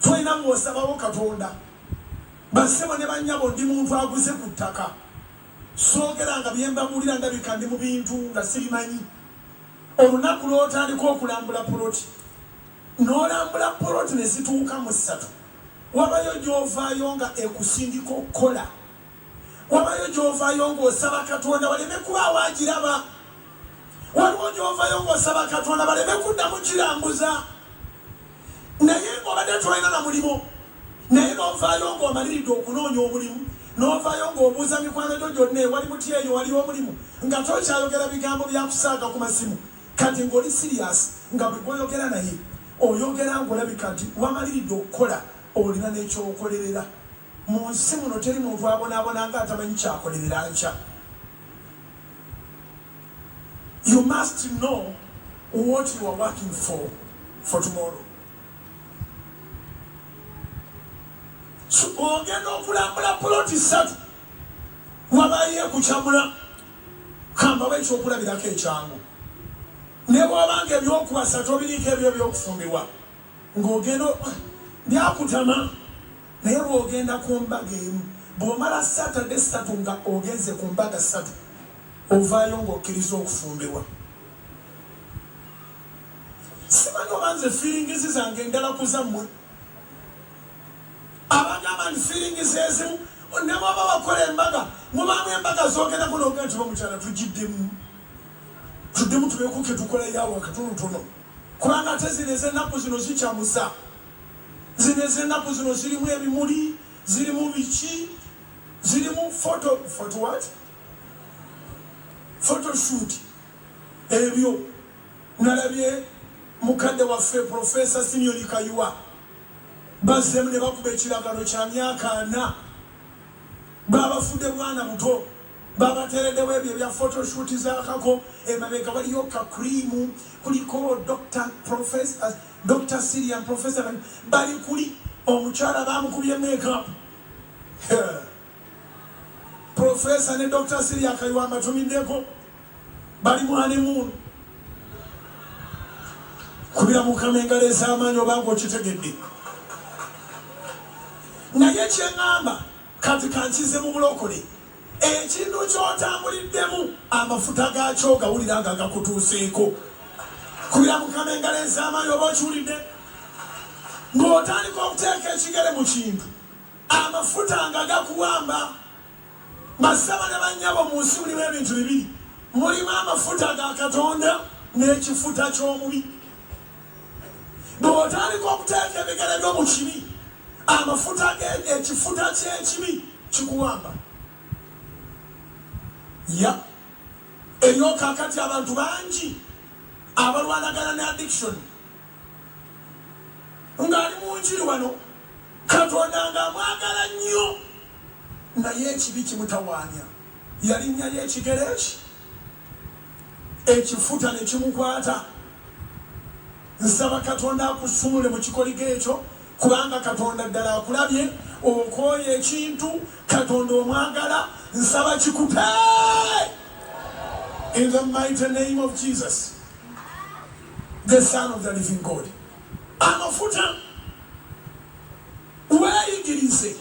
Tolina mwosabawo katonda. Bassebo ne bannyabo ndi muntu aguze ku ttaka. Soogera nga bye mbabuulira ndabika ndi mu bintu nga sibimanyi. Olunaku lw'otandika okulambula poloti n'olambula poloti ne zituuka mu ssatu wabayo gy'ovaayo nga ekusindika okukola. Wabayo gy'ovaayo ng'osaba katonda waleme kubaawo agiraba. Waliwo gy'ovaayo ng'osaba katonda baleme kuddamu kirambuza. naye ng'obadde tolina na mulimu naye n'ovaayo ng'omaliridde okunoonya omulimu n'ovaayo ng'obuuza mikwano gyo gyonna ewali mutya eyo waliyo omulimu nga tokyayogera bigambo bya kusaaga ku masimu kati ng'oli siriyasi nga bwe gwoyogera naye oyogera ng'olabika nti wamaliridde okukola olina n'ekyokolerera mu nsi muno teri muntu abonaabona nga atamanyi kyakolerera nkya you must know what you are working for for tomorrow ogenda okulambula puloti ssatu wabaye kukyamula kambawo ekyokulabirako ekyangu ne bwabanga ebyokuwasa tobiriiko ebyo ebyokufumbirwa ng'ogenda byakutama naye bwogenda ku mbaga emu bwomala saturday satu nga ogenze ku mbaga satu Ovaayo nga okkiriza okufumbirwa. Simanyi oba nze feelings zange ndala ku zammwe. Abagamba nti feelings ezimu ne bwaba wakola embaga mubaamu embaga zoogerako noga nti bamukyala tugiddemu tuddemu tubekuke tukola yawa katonotono kubanga ate zino ezennaku zino zikyamusa zino ezennaku zino zirimu ebimuli zirimu biki zirimu foto foto wati photoshoot ebyo nalabye mukadde waffe profesa simioni kayiwa bazzemu ne bakuba ekiragano kya myaka ana babafudde bwana buto babateredewo ebyo ebya photoshoot zakako emabega waliyo kakrimu kuliko dr professor dr sirian professor bali kuli omukyala bamukubye makeup Professor ne Dr. Siria Kaliwa mbatumiddeko bali mu honeymoon kubira mukama engalo ez'amaanyi obanga okitegedde naye kyeŋŋamba kati kankize mu bulokole ekintu kyotambuliddemu amafuta gaakyo gawulira nga gakutuuseeko kubira mukama engalo ez'amaanyi oba okiwulidde ng'otandika okuteeka ekigere mu kintu Amafuta nga gakuwamba. Bassebo ne bannyabo, mu nsi mulimu ebintu bibiri, mulimu amafuta ga Katonda n'ekifuta ky'omubi. Bw'otandika okuteeka ebigere byo mu kibi, amafuta ge, ekifuta ky'ekibi kikuwamba. Ya eriyo kaakati abantu bangi abalwanagana ne addiction. ng'ali mu njiri wano, Katonda ng'amwagala nnyo naye ekibi kimutawaanya. Yalinnyayo ekigere ki? Ekifuta ne kimukwata. Nsaba Katonda akusumule mu kikoligo ekyo kubanga Katonda ddala akulabye okooye ekintu Katonda omwagala nsaba kikupe in the mighty name of Jesus. the son of the living God amafuta weeyigirize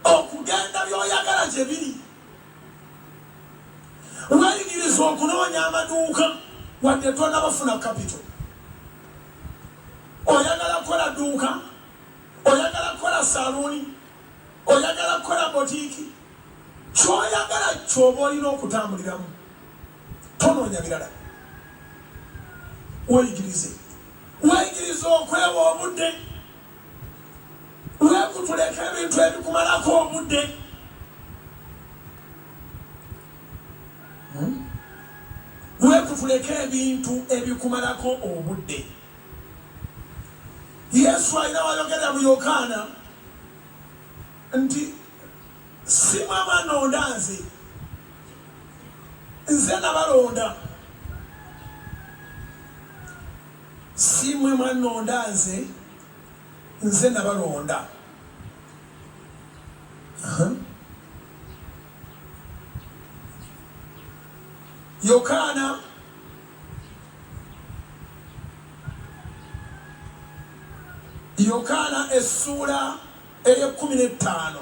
okugenda by'oyagala gye biri weeyigirize okunoonya amaduuka wadde tonabafuna kapito oyagala kukola duuka oyagala kukola saluuni oyagala kukola botiiki kyoyagala kyoba olina okutambuliramu Tonoonya birala. Weeyigirize. Weeyigirize okwewa obudde. Weekutuleko ebintu ebikumalako obudde. Hmm? Weekutuleko ebintu ebikumalako obudde. Yesu alina wayogera mu Yokaana nti simwe abanonda nze nze nabalonda simwe mwanonda nze nze nabalonda yokaana uh -huh. Yokaana essuula ey'ekkumi n'ettaano.